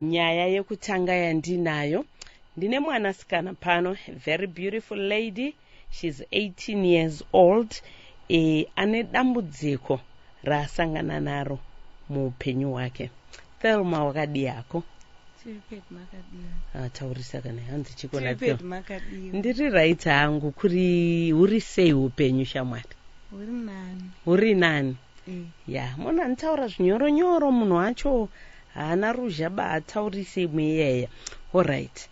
Nyaya yekutanga yandinayo ndine mwana sikana pano very beautiful lady she's 18 years old e, ane dambudziko raasangana naro muupenyu hwake thelma wakadii hako ataurisa ah, kana hanzi chiko napyo ndiri right hangu kuri huri sei upenyu shamwari huri nani eh. ya mona nditaura zvinyoronyoro munhu wacho Haana ruzha ba ataurise imwe iyaya horyt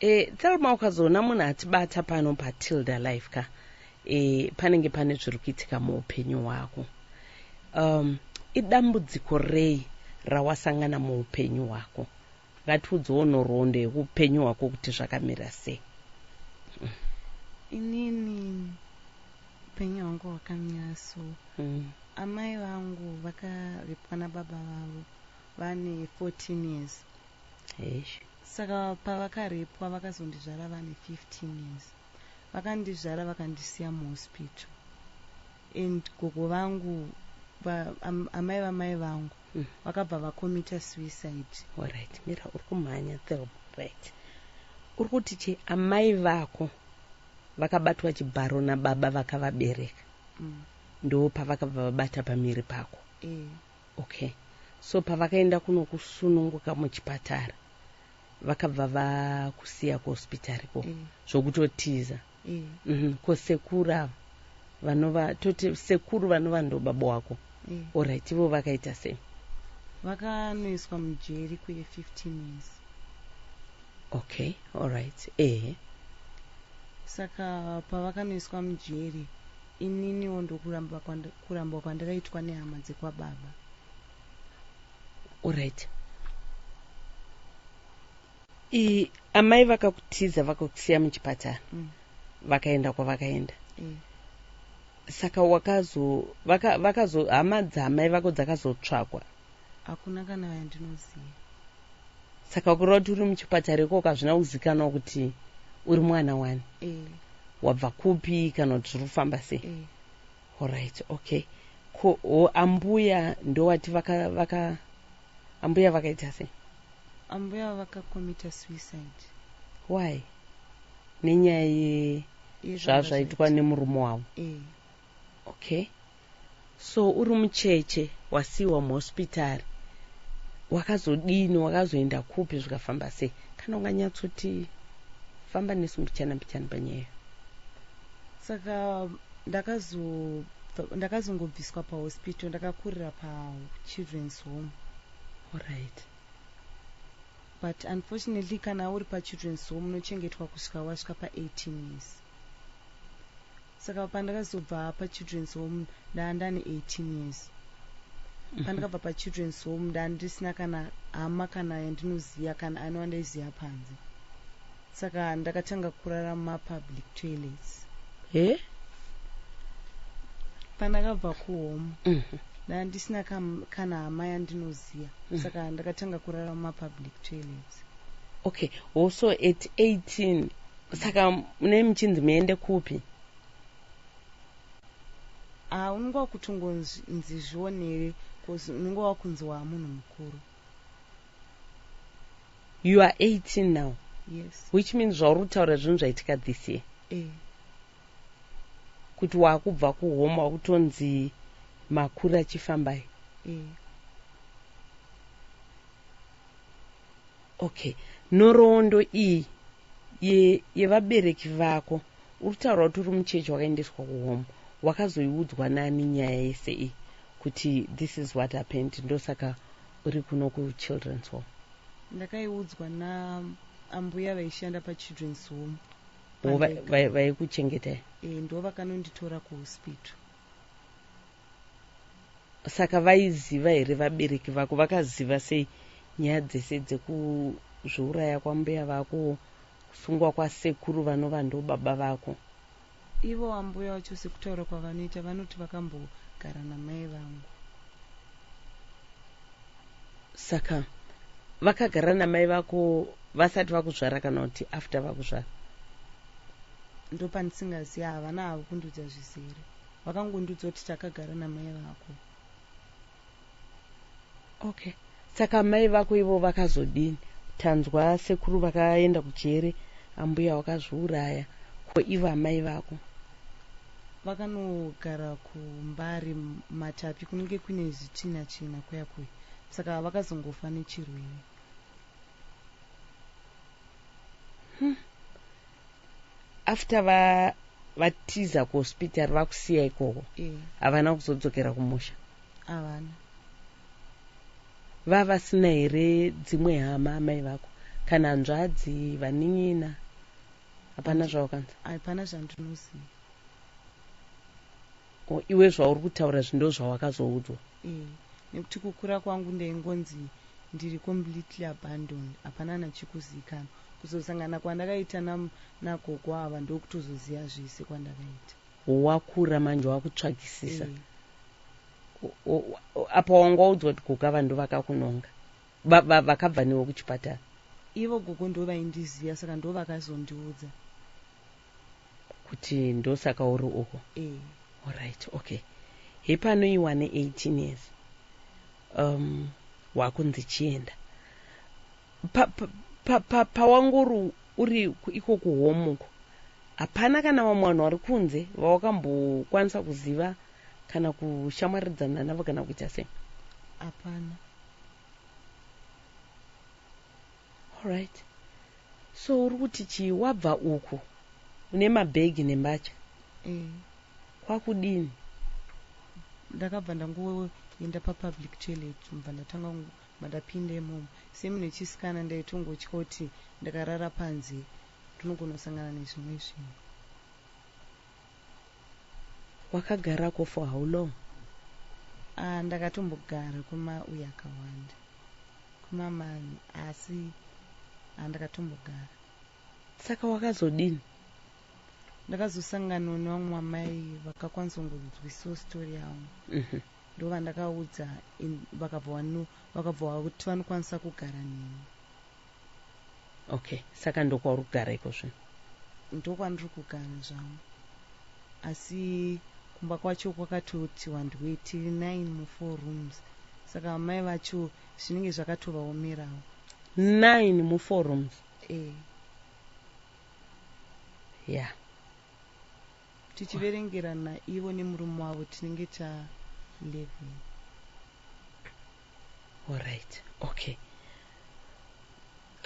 e, Thelma ukazoona munhu atibata pano pa Tilda live ka e, panenge pane zviri kuitika muupenyu hwako um, idambudziko rei rawasangana muupenyu hwako ngatiudzewo nhoroondo yeupenyu hwako kuti zvakamira sei mm. inini upenyu hwangu hwakamira so mm. amai vangu vakaripwa nababa vavo vane 14 years Eish. saka pavakarepwa vakazondizvara vane 15 years vakandizvara vakandisiya muhospital and gogo vangu va, am, amai vamai vangu Mm. vakabva vakomita suicide Alright, mira uri kumhanya Theo. Right. Uri kuti chi amai vako vakabatwa chibharo nababa vakavabereka mm. ndopavakabva vabata pamiri pako. eh. Okay so pavakaenda kunokusununguka muchipatara vakabva vakusiya kuhospitari ko mm. zvokutotiza mm. mm -hmm. ko sekuru ava vanova toti sekuru vanova ndo baba wako mm. orit ivo vakaita sei vakanoiswa mujeri kuye 15 years okay orit ehe saka pavakanoiswa mujeri Ininiwo ndokuramba kurambwa kwandakaitwa nehama dzekwababa. Alright. I amai vakakutiza vakakusiya muchipatara. Mm. Vakaenda kwavakaenda. Mm. Saka wakazo vaka vakazo hama dzamai vako dzakazotsvakwa. hakuna kana yandinoziva saka kureva kuti uri muchipatara ikoko hazvina kuzikanwa kuti uri mwana wani e. wabva kupi kana kuti zviri kufamba sei e. Eh. orit okay ko o, ambuya ndowati vaka, vaka ambuya vakaita sei ambuya vakakomita suicide why nenyaya ye zvazvaitwa nemurume wavo e. Okay so uri mucheche wasiiwa muhospitari wakazodini wakazoenda kupi zvikafamba sei kana unganyatsoti famba nesu mbichana mbichana panyaya saka ndakazongobviswa ndaka pahospital ndakakurira pachildren's home allright but unfortunately kana uri pachildren's home unochengetwa kusvika wasvika pa18 years Saka pandakazobva pa children's home ndanga ndane 18 years. Pandakabva pa children's home ndanga ndisina kana hama kana yandinoziva kana ani wandaiziva panze. Saka ndakatanga kurara muma public toilets. He? Pandakabva ku home Mhm. ndanga ndisina kam- kana hama yandinoziva. Saka ndakatanga kurara muma public toilets. okay oh so at 18 saka munei muchinzi muende kupi ah unenge wakutongonzi zvionere bcause unenge wakunzi waa munhu mukuru you are 18 now yes which means zvauri kutaura zvinhu zvaitika this year eh. kuti waakubva kuhome wakutonzi makuru achifambai eh. okay nhoroondo iyi yevabereki ye vako uri taura kuti uri muchechi wakaendeswa kuhome wakazoiudzwa nani nyaya yese iyi kuti this is what happened ndosaka uri kuno kuchildren's home ndakaiudzwa naambuya vaishanda pachildren's home vaikuchengetai e, ndo vakanonditora kuhospital Saka vaiziva here vabereki vako vakaziva sei nyaya dzese dzekuzviuraya kwambuya vako kusungwa kwasekuru vanova ndobaba vako. Ivo ambuya vacho sekutaura kwavanoita vanoti vakambogara namai vangu. Saka vakagara namai vako vasati vakuzvara kana kuti after vakuzvara? Ndopandisingaziva havana havo kundiudza zvizere. Vakangondiudza kuti takagara namai vako. Okay. Saka mai vako ivo vakazodini? Tanzwa sekuru vakaenda kujere, ambuya wakazviuraya. Ko ivo amai vako? Vakanogara kuMbare Matapi kunenge kune zvichina china kuya kuya. Saka vakazongofa nechirwere. Hmm. after va vatiza kuhospitari vakusiya ikoko eh. havana kuzodzokera kumusha havana vavasina here dzimwe hama amai vako kana hanzvadzi vanin'ina hapana zvaukanza hapana zvandinoziva iwe zvauri kutaura zvindo zvawakazoudzwa eh, nekuti kukura kwangu ndaingonzi ndiri completely abandoned hapana nachikuzikanwa Kuzosangana kwandakaita na, na gogo ava ndokutozoziva zvese kwandakaita. Wakura manje wakutsvakisisa. Ehe. Apa wanga waudzwa kuti gogo ava ndovakakunonga. Va, va, vakabva newe kuchipatara. Ivo gogo ndovaindiziva saka ndovakazondiudza. Kuti ndosaka uri uko. Ehe. Alright, okay. Hepano iwane 18 years. Um, wakunzi chienda. Pa, pa, pa, pa, pawangori uri iko kuhome uko hapana kana vamwe vanhu vari kunze vawakambokwanisa kuziva kana kushamwaridzana navo kana kuita sei hapana allright so uri kuti chii wabva uku une mabhegi nembatya eh. kwakudini ndakabva ndangoenda papublic toilet mva ndatanga Mandapinda imomo semunhu wechisikana ndaitongotya kuti ndakarara panze ndinogona kusangana nezvimwe zvinhu. Wakagarako for how long? Ah ndakatombogara kwema uye akawanda kwema manhu asi ah ndakatombogara. Saka wakazodini? Ndakazosanganawo nevamwe amai vakakwanisa kungonzwisiwo story yangu. ndovandakaudza in vakabva wanu vakabva wakuti vanokwanisa kugara neni okay saka ndokwauri kugara iko zvino ndokwandiri kugara zvangu asi kumba kwacho kwakatoti wandu wetiri nine mufour rooms saka amai vacho zvinenge zvakatovaomerawo nine mufour rooms e eh. ya yeah. Tichiverengerana ivo nemurume wavo tinenge ta 11. Alright, okay.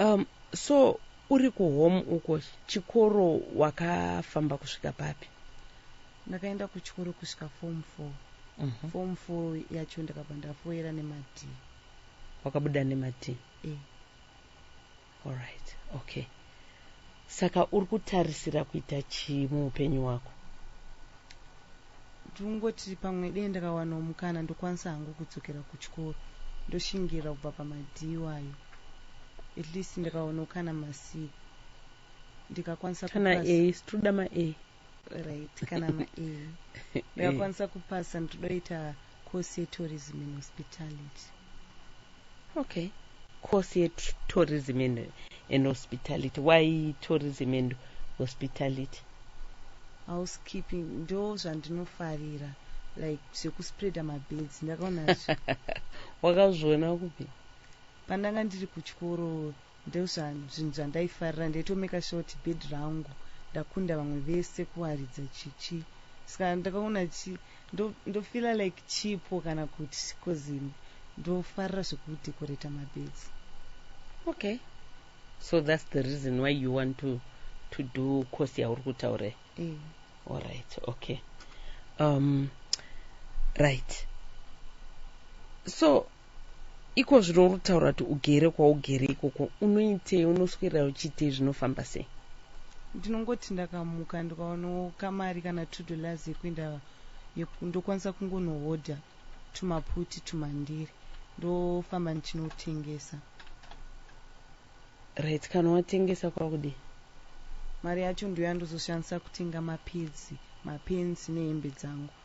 Um, so uri kuhome uko chikoro wakafamba kusvika papi? Ndakaenda kuchikoro kusvika form 4. Uh mhm. -huh. Form 4 yacho ndakabva ndafoera nemadii. Wakabuda nemadii? Eh. Alright, okay. Saka uri kutarisira kuita chii muupenyu hwako? Ndiri kungoti pamwe dei ndakawanawo mukana ndokwanisa hangu kudzokera kuchikoro ndoshingira kubva pamadhii iwayo at least ndikawanawo kana masi ndikakwanisa Kana kupasa. A, situda ma A. right kana ma e ndakakwanisa kupasa ndinoita course yetourism in hospitality okay course yetourism in, in hospitality why tourism and hospitality housekeeping ndo zvandinofarira like zvekuspreada mabeds ndakaona wakazviona kupi pandanga ndiri kuchikoro Ndozvanhu zvinhu zvandaifarira ndaito maker sure kuti bed rangu ndakunda vamwe vese kuwaridza chichi ska ndakaona chi ndo ndo feeler like chipo kana kuti coz ini ndofarira zveku decorate ma beds. Okay so that's the reason why you want to to do course yauri kutaura iyi. Eh. All right okay um right so Ikozvino uri kutaura kuti ugere kwaugere ikoko unoitei unoswera uchiitei zvinofamba sei ndinongoti ndakamuka ndikaonawo kamari kana two dollars yekuenda ndokwanisa kungonohodha tumaputi tumandiri ndofamba ndichinotengesa right kana watengesa kwakudii mari yacho ndoyandozoshandisa kutenga mapedzi mapenzi nehembe dzangu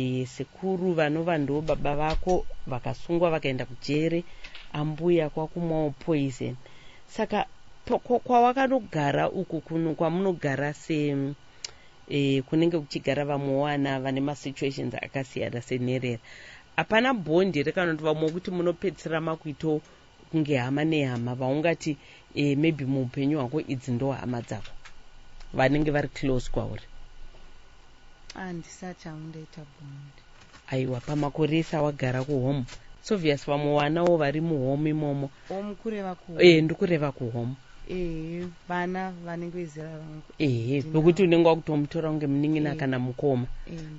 Eeh sekuru vanova ndoo baba vako vakasungwa vakaenda kujere ambuya kwakumwawo poison saka kwawakanogara uku kuno kwamunogara se eh, kunenge kuchigara vamwe wana vane masituations akasiyana senherera hapana bhondi rekanoti vamwe kuti munopedzisira makuito kunge hama nehama vaungati e, maybe muupenyu hwako idzi ndo hama dzako vanenge vari close kwauri andisati ah, aundaita bond aiwa pamakore ese awagara kuhome sovious vamwe wanawo vari muhome imomo home kureva ku e, eh, ndikureva kuhome ehe vana vanenge vezera rangu ehe vekuti unenge wakutomutora kunge munin'ina kana mukoma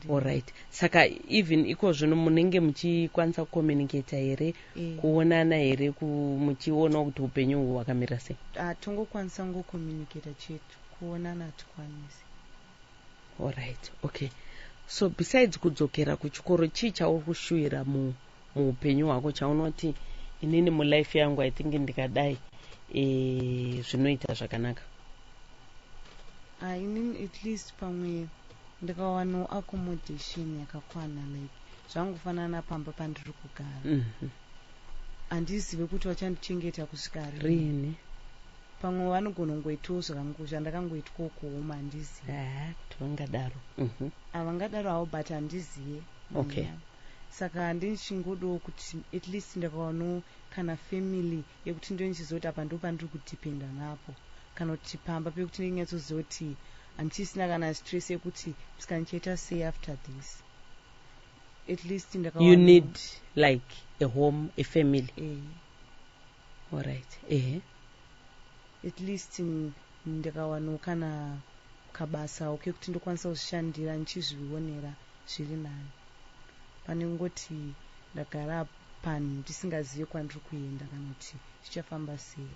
allright saka even iko zvino munenge muchikwanisa kucommunicata here Eh. kuonana here ku- muchionawo kuti upenyu uhu hwakamira sei hatongokwanisa kungocommunicata chete kuonana hatikwanisi alright okay so besides kudzokera kuchikoro chii chauri kushuvira mu muupenyu hwako chaunoti inini mulife yangu i think ndikadai eh, zvinoita zvakanaka Ah, inini at least pamwe ndikawano accommodation yakakwana like zvangofanana pamba pandiri kugara mhm. handizive mm -hmm. kuti vachandichengeta kusvika rini pamwe vanogona kungoitawo zvakangu zvandakangoitwawo kuhoma handizive ah, vangadaro mhm. havangadaro havo but handizive okay mm. saka ndichingodawo kuti at least ndakawano kana family yekuti ndonichiziva kuti apa ndo pandiri kudependa napo kana kuti pamba pekuti ndinyatsozoti Handisisina kana stress yekuti mskana chaita sei after this. At least ndaka You need like a home, a family. Eh. All right. Eh. At least ndakawano kana kabasa okay kuti ndokwanisa kuzvishandira ndichizvionera zviri nani. Pane kungoti ndagara panhu ndisingazive kwandiri kuenda kana kuti zvichafamba sei.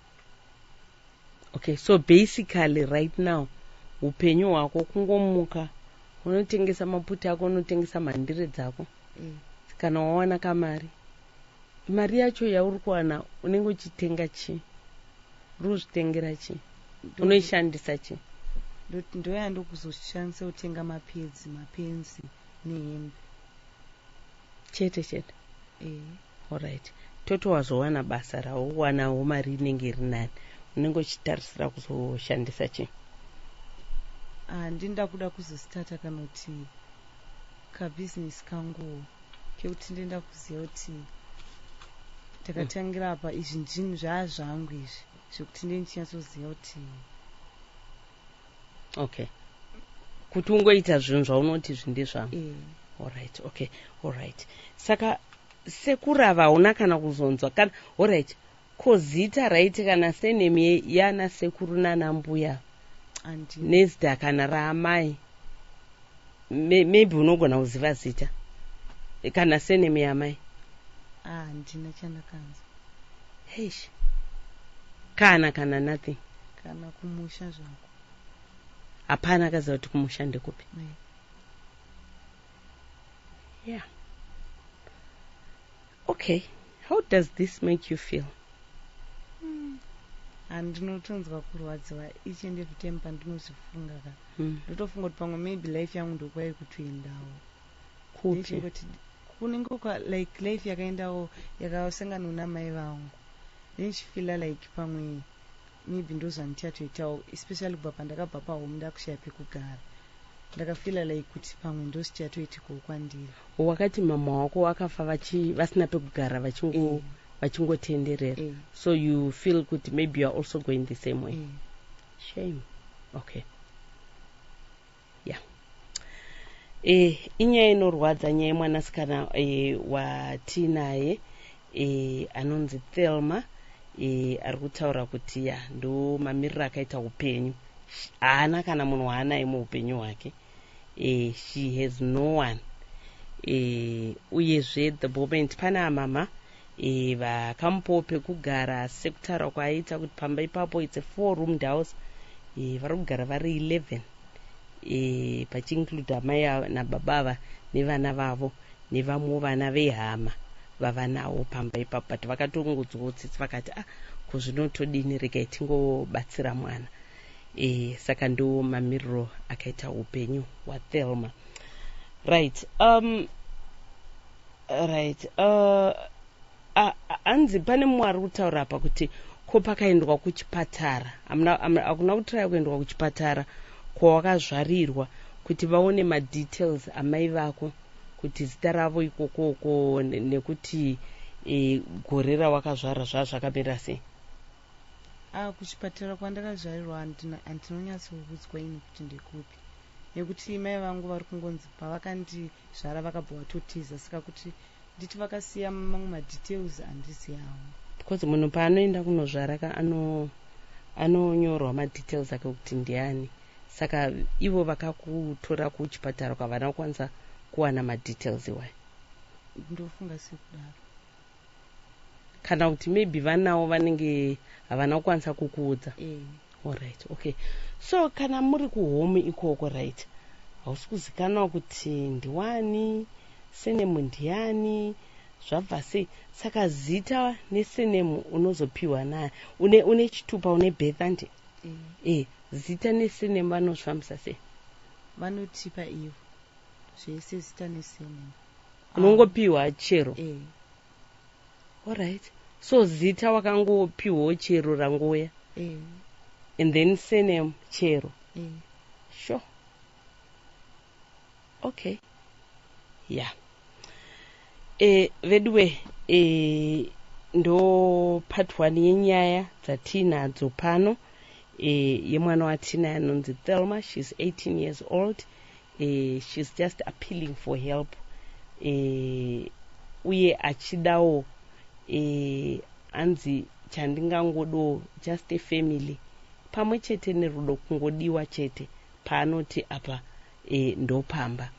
Okay, so basically right now upenyu hwako kungomuka unotengesa maputi ako unotengesa mhandire dzako mm. kana wawana kamari mari yacho yauri kuwana unenge uchitenga chii uri kuzvitengera chii unoishandisa chii ndoyandokuzoshandisa kutenga mapedzi mapenzi nehembe chete chete eh. orit toti wazowana basa raowanawo mari inenge iri nani unenge uchitarisira kuzoshandisa chii handini ah, ndakuda kuzostata kanoti kabhizinesi kanguwo kekuti ndoenda kuziva kuti takatangira apa izvi ndinhu zvaa zvangu izvi zvekuti ndee ndichinyatsoziva kuti okay kuti ungoita zvinhu zvaunoti izvi ndezvangu mm. allright okay allright saka sekurava hauna kana kuzonzwa kana allright ko zita raiti kana senemi yana sekuru nana mbuya nezita kana raamai maybe unogona kuziva zita kana senemi yamai ah, handina chandakanzwa Eish. kana kana nothing kana kumusha zvako hapana akaziva kuti kumusha ndekupi Nei. yeah okay how does this make you feel handinotonzwa kurwadziwa each and every time pandinozvifunga ka mm. ndotofunga kuti pamwe maybe life yangu ndokuva yekutoendawo kupi kunenge kwa like life yakaendawo yakasanganwa namai vangu then she feela like pamwe maybe ndozvandichatoitawo especially kubva pandakabva pahome ndakushaya pekugara ndakafeela like kuti pamwe ndosichatoitikawo kwandiri wakati mama wako wakafa vasina pekugara vachingo eh. vachingotenderera eh. so you feel kuti maybe youare also going the same way eh. shame okay e, inyaya inorwadza nyaya yemwanasikana e, watinaye e, anonzi thelma e, ari kutaura kuti ya ndo mamiriro akaita upenyu haana kana munhu waanaye muupenyu hwake e, she has no one e, uyezve the moment pane amama e, vakamupawo pekugara sekutaura kwaaita kuti pamba ipapo its a four roomed house e, vari kugara vari 11 e, pachiinclude amai nababa ava nevana vavo nevamwewo vana vehama vavanawo pamba ipapo but vakatongodzwawo tsitsi vakati ah ko zvino todini regai tingobatsira mwana e, saka ndo mamiriro akaita upenyu hwathelma right um, right uh, hanzi uh, uh, pane mumwe ari kutaura apa kuti ko pakaendwa kuchipatara hakuna kutraya kuendwa kuchipatara kwawakazvarirwa kuti vaone madetails amai vako kuti zita ravo ikokoko nekuti e, gore rawakazvara zvaa zvakamira sei a ah, kuchipatara kwandakazvarirwa handinonyatsokuudzwa ini kuti ndekupi nekuti mai vangu vari kungonzi pavakandizvara vakabva vatotiza saka kuti nditi vakasiya mamwe madetails handiziyawo because munhu paanoenda kunozvara ka ano anonyorwa madetails ake kuti ndiani saka ivo vakakutora kuchipatara kwavana kukwanisa kuwana madetails iwayo ndofunga sekudaro kana kuti maybe vanawo vanenge havana kukwanisa kukuudza eh. orit okay so kana muri kuhome ikoko right hausi kuzikanwa kuti ndiwani senemu ndiyani zvabva sei saka zita nesenemu unozopiwa naye une, une chitupa une birth andi e eh. eh, zita nesenemu vanozvifambisa sei vanotipa ivo zvese zita nesenemu unongopiwa ah. chero eh. allright so zita wakangopiwawo chero rangouya eh. and then sename chero eh. sure okay ya yeah. eh, veduwe eh, ndo part one yenyaya dzatiinadzo pano eh, yemwana watinai anonzi thelma she's 18 years old eh, she's just appealing for help eh, uye achidawo eh, hanzi chandingangodawo just a family pamwe chete nerudo kungodiwa chete paanoti apa eh, ndopamba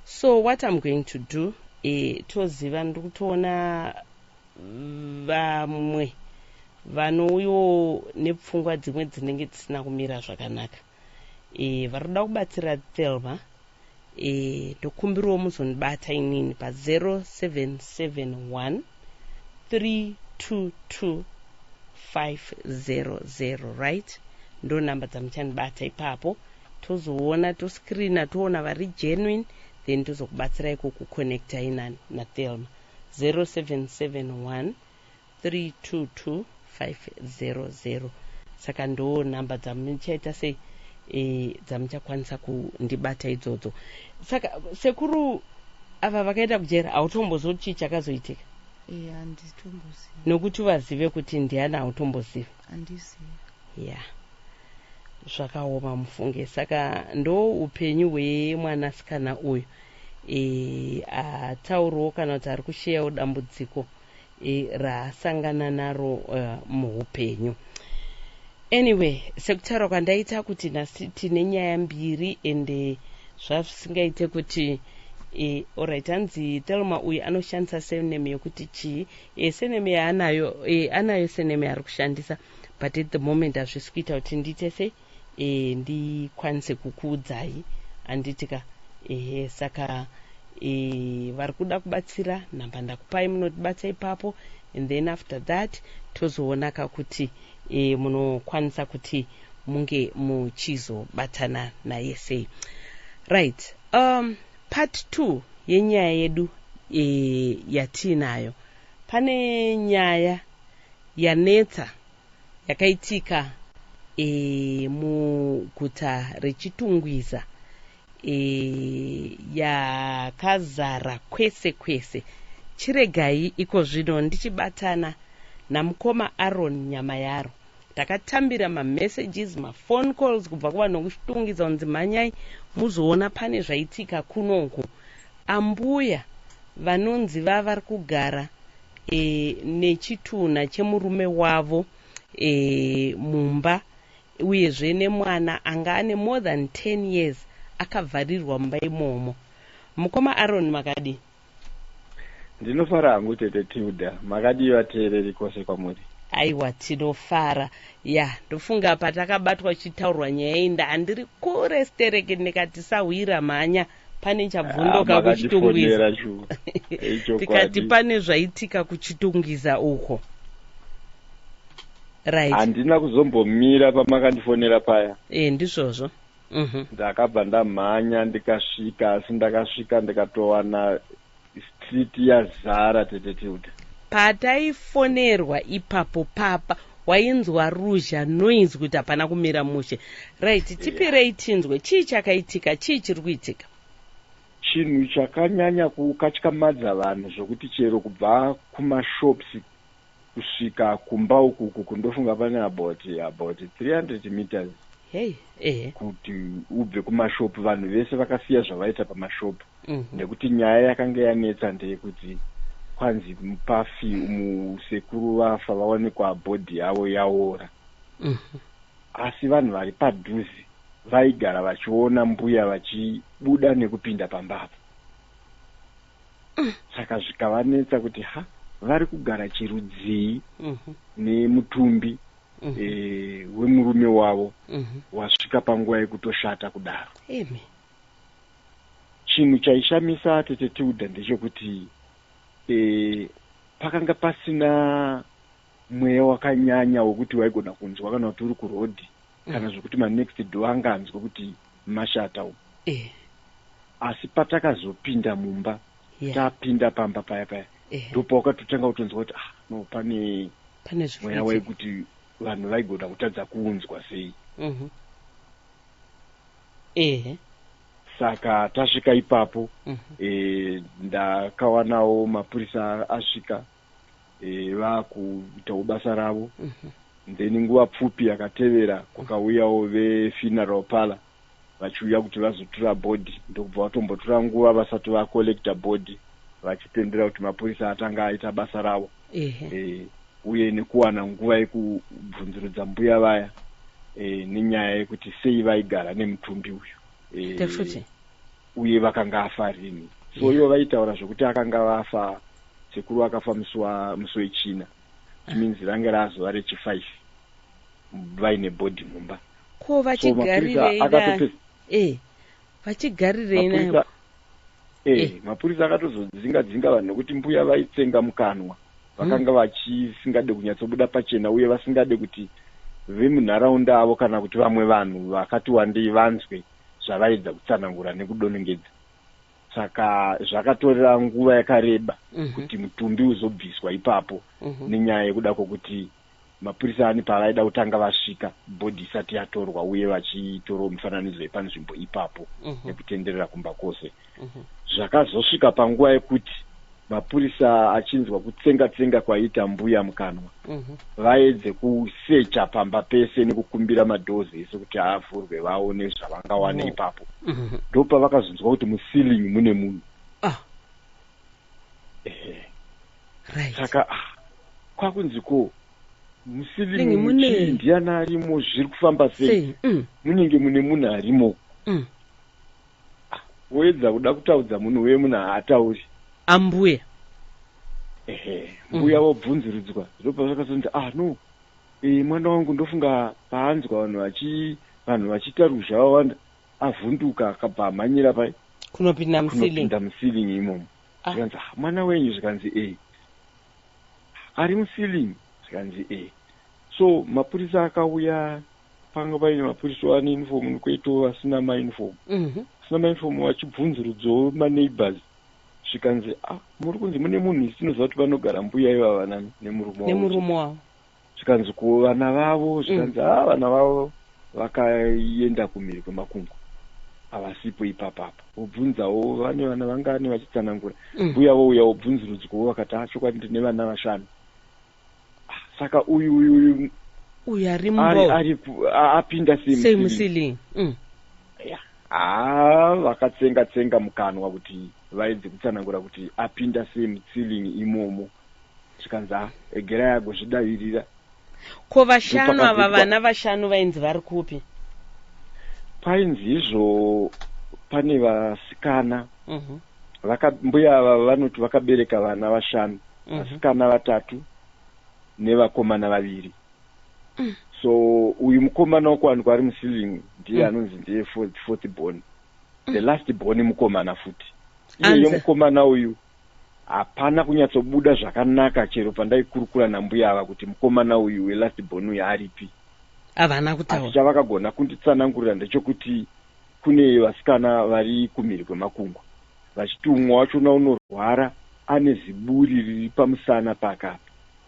so what i'm going to do eh, toziva ndiri kutoona vamwe vanouyo nepfungwa dzimwe dzinenge dzisina kumira zvakanaka eh, vari kuda kubatsira thelma eh, ndokumbiriwo muzondibata inini pa 0771 322 500 right ndo namba dzamuchandibata ipapo tozoona toscreena toona vari genuine then tozokubatsira iko kuconnecta inani nathelma 0771 322500 saka ndo number dzamuchaita sei e, dzamuchakwanisa kundibata idzodzo saka sekuru ava vakaenda kujera hautombozivi kuti chii chakazoitika e, nokuti vazive kuti ndiani hautombozivi ya yeah. zvakaoma mufunge saka ndo upenyu hwemwanasikana uyu e, atauriwo kana kuti ari kusheyawo dambudziko e, raasangana naro uh, muupenyu anyway sekutaura kwandaita kuti nhasi tine nyaya mbiri ende zvasingaite kuti e, orit hanzi telma uyu anoshandisa sename yokuti chii e, sename yaanayo e, anayo sename ari kushandisa but at the moment hazvisi kuita kuti ndiite sei e, ndikwanise kukuudzai anditika ehe saka e, vari kuda kubatsira nhamba ndakupai munotibatsa ipapo and then after that tozoona ka kuti e, munokwanisa kuti munge muchizobatana naye sei right um, part two yenyaya yedu e, yatiinayo pane nyaya yanetsa yakaitika e, muguta reChitungwiza e, yakazara kwese kwese. Chiregai iko zvino ndichibatana namukoma Aaron Nyamayaro takatambira mamessages maphone calls kubva kuvanokushitungidza kunzi mhanyai muzoona pane zvaitika kunoku ambuya vanonzi vavari kugara e, nechitunha chemurume wavo e, mumba uyezve nemwana anga ane more than 10 years akavharirwa mumba imomo mukoma aron makadii ndinofara hangu tete tilda makadii vateereri kwose kwamuri aiwa tinofara ya ndofunga patakabatwa chitaurwa nyaya iyi ndaandiri kure stereki ndikati sahwira mhanya pane ah, chabvundoka ah, kuchitungwiza tikati pane zvaitika kuchitungwiza uko right handina kuzombomira pamakandifonera paya e ndizvozvo mhm. ndakabva ndamhanya ndikasvika asi ndakasvika ndikatowana Street yazara tete Tilda. Pataifonerwa ipapo papa wainzwa ruzha noise kuti hapana kumira mushe. Right, tipirei tinzwe chii chakaitika, chii chiri kuitika? Chinhu chakanyanya kukatyamadza vanhu zvokuti chero kubva kumashops kusvika kumba ukuku kundofunga pane about about 300 meters hey, eh. kuti ubve kumashopu vanhu vese vakasiya zvavaita pamashopu mm -hmm. nekuti nyaya yakanga yanetsa ndeyekuti kwanzi mupafi musekuru vafa vawanikwa bhodhi yavo yaora mm -hmm. asi vanhu vari padhuze vaigara vachiona mbuya vachibuda nekupinda pambapo mm. saka zvikavanetsa kuti ha vari kugara chirudzii mm -hmm. nemutumbi mm -hmm. e, wemurume wavo mm -hmm. wasvika panguva yekutoshata kudaro Amen. chinhu chaishamisa tete tiuda ndechekuti e, pakanga pasina mweya wakanyanya wekuti waigona kunzwa kana kuti uri kurodhi mm. kana zvekuti manext door anga anzwa kuti mashata umu eh. asi patakazopinda mumba yeah. tapinda pamba paya paya eh. ndopawakatotanga kutonzwa kuti ah no pane pane mweya waikuti vanhu vaigona kutadza kunzwa sei mm -hmm. eh saka tasvika ipapo mm -hmm. e, ndakawanawo mapurisa asvika e, vakuitawo basa ravo mm -hmm. then nguva pfupi yakatevera kwakauyawo vefuneral pala vachiuya kuti vazotura body ndokubva vatombotura nguva vasati vacollecta body vachipendera kuti mapurisa atanga aita basa ravo e, uye nekuwana nguva yekubvunzurudza mbuya vaya e, nenyaya yekuti sei vaigara nemutumbi uyu e, uye vakanga afa rini so ivo vaitaura zvekuti akanga vafa sekuru vakafa musi musi wechina means range razuva rechifive vaine bhodhi mumba ko vachigarirei eh, vachigarirei nayo eh, eh. mapurisa akatozodzinga dzinga vanhu nokuti mbuya vaitsenga mukanwa vakanga hmm. vachisingade kunyatsobuda pachena uye vasingade kuti vemunharaunda avo kana kuti vamwe vanhu vakati wandei vanzwe zvavaedza kutsanangura nekudonongedza saka zvakatorera nguva yakareba mm -hmm. kuti mutumbi uzobviswa ipapo mm -hmm. nenyaya yekuda kwokuti mapurisa ani pavaida kutanga vasvika bhodhi isati yatorwa uye vachitorwa mifananidzo yepanzvimbo ipapo mm -hmm. nekutenderera kumba kwose mhm. zvakazosvika panguva yekuti mapurisa achinzwa kutsenga tsenga kwaiita mbuya mukanwa mhm. vaedze kusecha pamba pese nekukumbira madhozi ese kuti avhurwe vaone zvavangawane oh. ipapo mhm. ndopa vakazonzwa kuti musealing mune munhu ah. saka ah, kwakunzi ko musealing muchii ndiana arimo zviri kufamba sei mm. munenge mune munhu arimo mm. Woedza kuda kutaudza munhu uye munhu haatauri. Ambuya. Ehe, mbuya mm. vobvunziridzwa ndopava vakazonzi ah no e, mwana wangu ndofunga paanzwa vanhu vachi vanhu vachiita ruzha vawanda avhunduka akabva amhanyira pai kunopinda mukunopinda musiling imomo ah. zvikanzi ah, mwana wenyu zvikanzi e ari musiling zvikanzi e so mapurisa akauya panga paine mapurisa ane uniform nikoitawo vasina mauniform mhm. vasina mauniform vachibvunzurudzawo maneighbors zvikanzi a ah, muri kunzi mune munhu isi tinoziva kuti vanogara mbuya ivava nani nemurumenemurume wavo zvikanzi ko vana vavo mm. zvikanzi a ah, vana vavo vakaenda kumhiri kwemakungu havasipo ipapapa wobvunzawo vane vana vangani vachitsanangura mm. mbuya vouya wobvunzurudzwawo vakati a ah, chokwadi ndine vana vashanu saka uyu uyu uyu uyu ari mbo ari apinda sei musili mm. haa vakatsenga tsenga mukanwa kuti vaedze kutsanangura kuti apinda sei mutsilingi imomo zvikanzi ha egerai agozvidavirira ko vashanu ava vana vashanu vainzi vari kupi painzi izvo pane vasikana mm -hmm. Vaka, mbuya ava vanoti vakabereka vana vashanu mhm. vasikana vatatu nevakomana vaviri mm. so uyu mukomana wokuwanikwa ari musiving ndiye mm. anonzi ndiye fourth born mm. the last born mukomana futi iyeyo mukomana uyu hapana kunyatsobuda zvakanaka chero pandaikurukura nambuya ava kuti mukomana uyu welast born uyu aripi havana kutaura asi chavakagona kunditsanangurira ndechokuti kune vasikana vari kumhiri kwemakungwa vachiti umwe wachona unorwara ane ziburi riri pamusana pakapa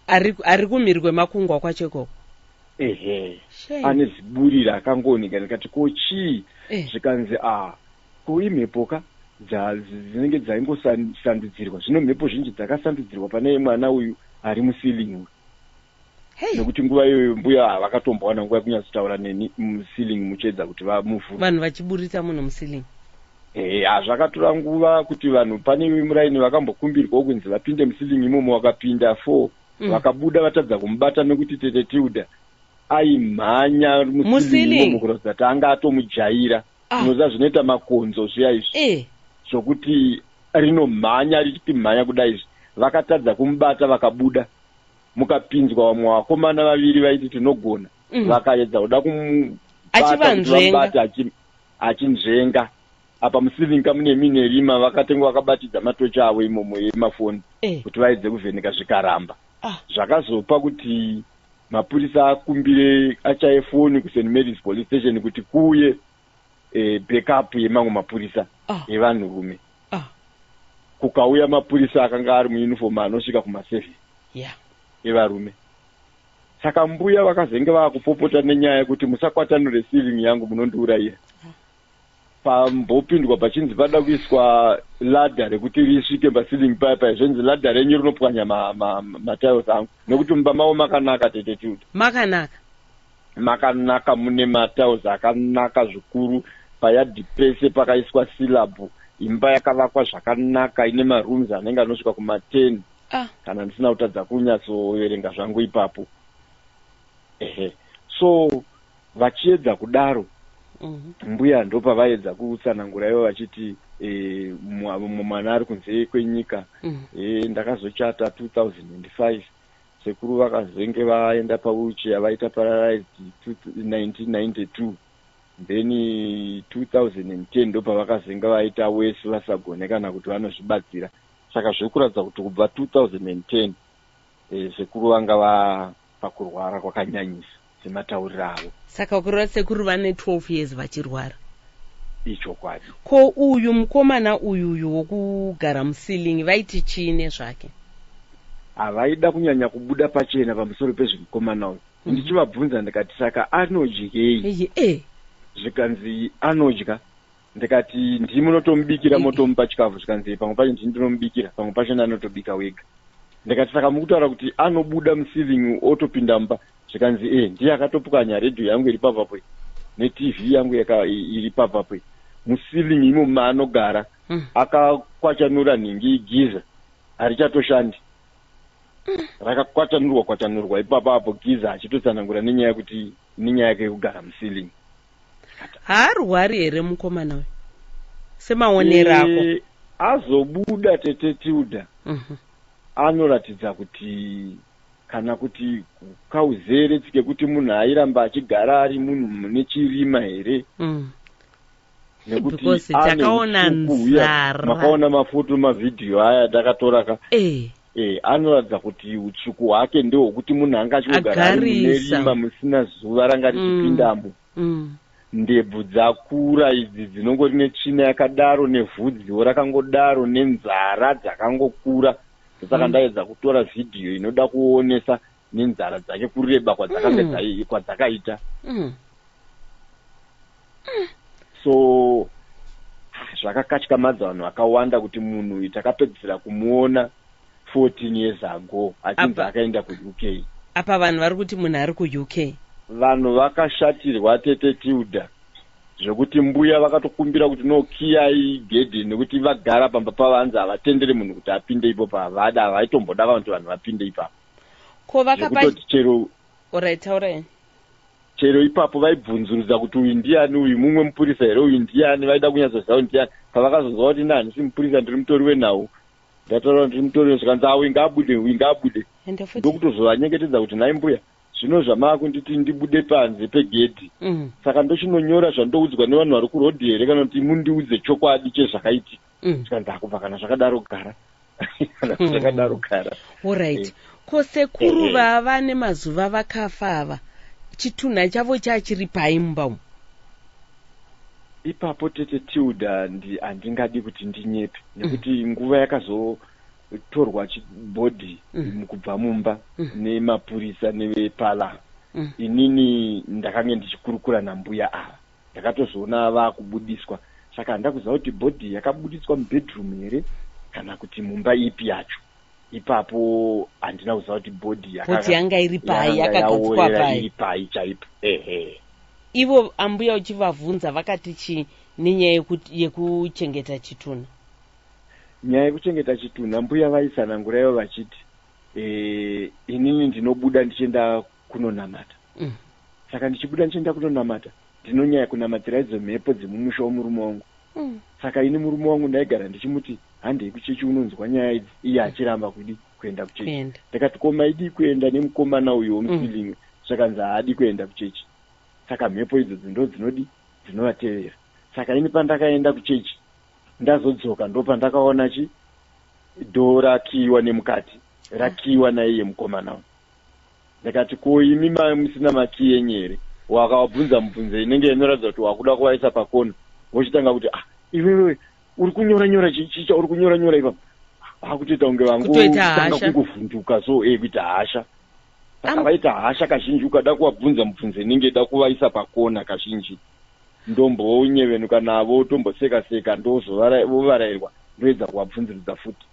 ari, ari kumhiri kwemakungwa kwacho ikoko ehe ane ziburi raakangooneka ndikati ko chii eh. zvikanzi a ah, ko imhepo ka dzinenge dzaingosandudzirwa zvino mhepo zhinji dzakasandudzirwa pane mwana uyu ari musealing uyu Hey. nekuti nguva iyoyo mbuya havakatombowana nguva yekunyatsotaura neni muceiling muchiedza kuti vamuvhura vanhu vachiburitsa munhu muceiling Eh, hazvakatora nguva kuti vanhu pane iwe muraini vakambokumbirwawo kunzi vapinde musilingi imomo vakapinda four Mm. vakabuda vatadza kumubata nekuti tete tilda aimhanya Musilingi. musilingi imomo kuratidza kuti anga atomujaira Ah. unoziva zvinoita makonzo zviya izvi eh zvokuti rinomhanya richimhanya kudai izvi vakatadza kumubata vakabuda mukapinzwa vamwe vakomana vaviri vaiti tinogona mm. vakaedza kuda kumubatabata achinzvenga apa musiving ka mune mine rima vakatenge vakabatidza matochi avo imomo yemafoni eh. kuti vaedze kuvheneka zvikaramba ah. zvakazopa kuti mapurisa akumbire achaye foni kust marys police station kuti kuye eh, backup yemamwe mapurisa Ah. evanhurume Ah, kukauya mapurisa akanga ari muuniform anosvika kumaseven yeah. evarume saka mbuya vakazenge vakupopota nenyaya yekuti musakwatanure ceiling yangu munondiurayira pambopindwa pachinzi pada kuiswa ladha rekuti risvike paceiling paya paya zvenzi ladha renyu rinopwanya matiles ma, ma matiles angu nekuti mumba mavo makanaka tete tuda Makanaka. makanaka mune matiles akanaka zvikuru payadhi pese pakaiswa silabhu imba yakavakwa zvakanaka ine marooms anenge anosvika kuma10 ah. kana ndisina kutadza kunyatsoverenga zvangu ipapo ehe so vachiedza kudaro mhm. mbuya ndo pavaedza kutsanangura ivo vachiti eh, mumwe mwana ari kunze kwenyika mhm. eh, ndakazochata 2005 Sekuru vakazenge vaenda pawheelchair vaita paralyzed 1992 then 2010 ndopavakazenge vaita wese vasagone kana kuti vanozvibatsira saka zviri kuratidza kuti kubva 2010 eh, sekuru vanga vapakurwara kwakanyanyisa sematauriro avo saka ukureva sekuru vane 12 years vachirwara ichokwadi ko uyu mukomana uyu uyu wokugara musilingi vaiti chii nezvake havaida kunyanya kubuda pachena pamusoro pezvemukomana uyu mhm. ndichivabvunza ndikati saka anodyei eh. zvikanzi anodya ndikati ndii munotomubikira motomupa chikafu zvikanzi pamwe pacho ndii ndinomubikira pamwe pacho ndanotobika wega ndikati saka mukutaura kuti anobuda musiving otopinda mumba zvikanzi e ndiye akatopukanya redhiyo yangu iri pavapo netv yangu iri pavapo musiving imo maanogara hmm. akakwachanura nhingi igiza harichatoshandi hmm. rakakwatanurwa kwatanurwa ipapapo giza achitotsanangura nenyaya yekuti nenyaya yake yekugara musiving haarwari here mukomana uyu semaonero ako eh, azobuda tete tilda mhm. anoratidza kuti kana kuti kauzere tsike kuti munhu airamba achigara ari munhu mune chirima here mm. nekutitakaona nzara makaona mafoto mavhidhiyo aya ndakatoraka eh. Eh, anoratidza kuti utsvuku hwake ndehwokuti munhu anga achingogara ari mune Agarisa. rima musina zuva ranga richipindamo Mm. ndebvu dzakura idzi dzinongori netsvina yakadaro nevhudziwo rakangodaro nenzara dzakangokura ndosaka ndaedza kutora vhidhiyo inoda kuonesa nenzara dzake kureba kwadzakange mm. kwadzakaita mm. mm. so zvakakatyamadza vanhu vakawanda kuti munhu uyu takapedzisira kumuona 14 years ago achinzi akaenda kuuk apa vanhu vari kuti munhu ari kuuk vanhu vakashatirwa tete tilda zvekuti mbuya vakatokumbira kuti no kiyai gedhi nekuti vagara pamba pavanzi havatendere munhu kuti apinde ipo pavada havaitomboda vanhu kuti vanhu vapinde ipapo ko vakapati chero orit taurai chero ipapo vaibvunzurudza kuti uyu ndiani uyu mumwe mupurisa here uyu ndiani vaida kunyatsoziva kuti ndiani pavakazonzwa kuti nani si mupurisa ndiri mutori wenhau ndataura kuti ndiri mutori wezvikanzi awi ngaabude uyu ngaabude ndokutozovanyengetedza kuti nhai mbuya zvino zvamaakunditi ndibude panze pegedhi mm. saka ndochinonyora zvandoudzwa nevanhu vari kurodhi here kana kuti mundiudze chokwadi chezvakaitika mm. zvikanzi akubva kana zvakadaro gara kana hmm. zvakadaro gara orit eh. ko sekuru eh, vava nemazuva vakafa ava chitunha chavo chachiri pai mumba umu ipapo tete tilda handingadi kuti ndinyepe mm. nekuti nguva yakazo torwa chibhodhi mm. mukubva mumba mm. nemapurisa nevepala mm. inini ndakange ndichikurukura nambuya ava Ndakatozoona vakubudiswa saka handina kuziva kuti body yakabuditswa mubedroom here kana kuti mumba ipi yacho. Ipapo handina kuziva kuti body yakanga yanga iri pai yakagadzikwa pai iri pai chaipo. Ehe. Ivo ambuya uchivavhunza vakati chii nenyaya yekuchengeta chitunha? Nyaya yekuchengeta chitunha mbuya vaisananguraivo vachiti e, inini ndinobuda ndichienda kunonamata mm. saka ndichibuda ndichienda kunonamata ndinonyaya kunamatsira idzo mhepo dzemumusha womurume wangu mm. saka ini murume wangu ndaigara ndichimuti handei kuchechi unonzwa nyaya idzi iye achiramba kudi kuenda kuchechi ndikati ko maidii kuenda nemukomana uyo womusilinwe mm. zvakanzi haadi kuenda kuchechi saka mhepo idzo dzindo dzinodi dzinovatevera saka ini pandakaenda kuchechi ndazodzoka ndopandakaona chi dhoo rakiiwa nemukati rakiiwa naiye mukomana uyo ndikati ko imi mai musina makii enyu here wakavabvunza mubvunzo inenge inoratidza kuti wakuda kuvaisa pakona vochitanga kuti ah iwewe uri kunyora nyora chicha uri kunyora nyora ipapa vakutoita kunge vangotanga kungovhunduka so e kuita hasha saka vaita hasha kazhinji ukada kuvabvunza mubvunzo inenge ida kuvaisa pakona kazhinji ndombonyevenuka navo tomboseka seka ndovarairwa ndoedza kuvabvunziridza futi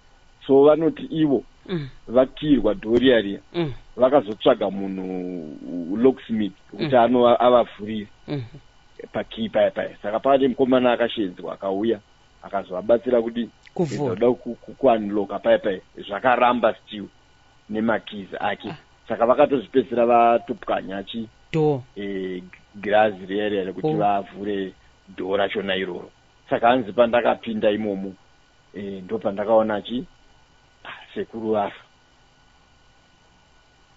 so vanoti ivo mm. vakirwa dhoria riya mm. vakazotsvaga munhu locksmith kuti mm. ano avavhurire mm. pakii paya paya saka pava nemukomana akashedzwa akauya akazovabatsira kuti kuda kuanloka paya paya zvakaramba still nemakizi ake ah. saka vakatozvipedzisira vatopwanya chi do eh, girazi riya riya rekuti oh. vavhure dhoo rachona iroro saka hanzi pandakapinda imomo e, ndopandakaona achi ah, sekuru vafa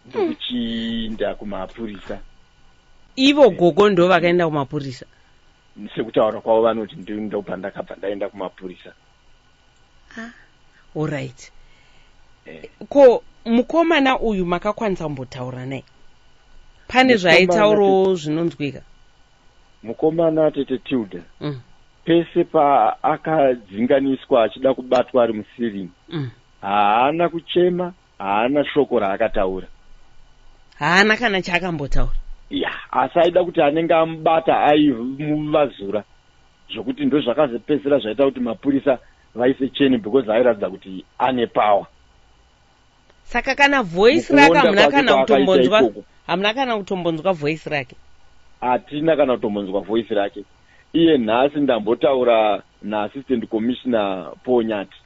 ndokuchiinda kumapurisa ivo gogo ndo vakaenda kumapurisa sekutaura kwavo vanoti ndopandakabva ndaenda kumapurisa ah, allright eh. ko mukomana uyu makakwanisa kumbotaura naye pane zvaitaurawo zvinonzwika mukomana tete tilda mm. pese paakadzinganiswa achida kubatwa ari musirini mm. haana kuchema haana shoko raakataura haana kana chaakambotaura ya asi aida kuti anenge amubata aimuvazura zvokuti ndozvakazopedzisira zvaita kuti mapurisa vaise cheni because airatidza kuti ane power saka kana voice rake hamuna kana kutombonzwa hamuna kana kutombonzwa voice rake hatina kana kutombonzwa voice rake iye nhasi ndambotaura naassistant commissioner paul nyati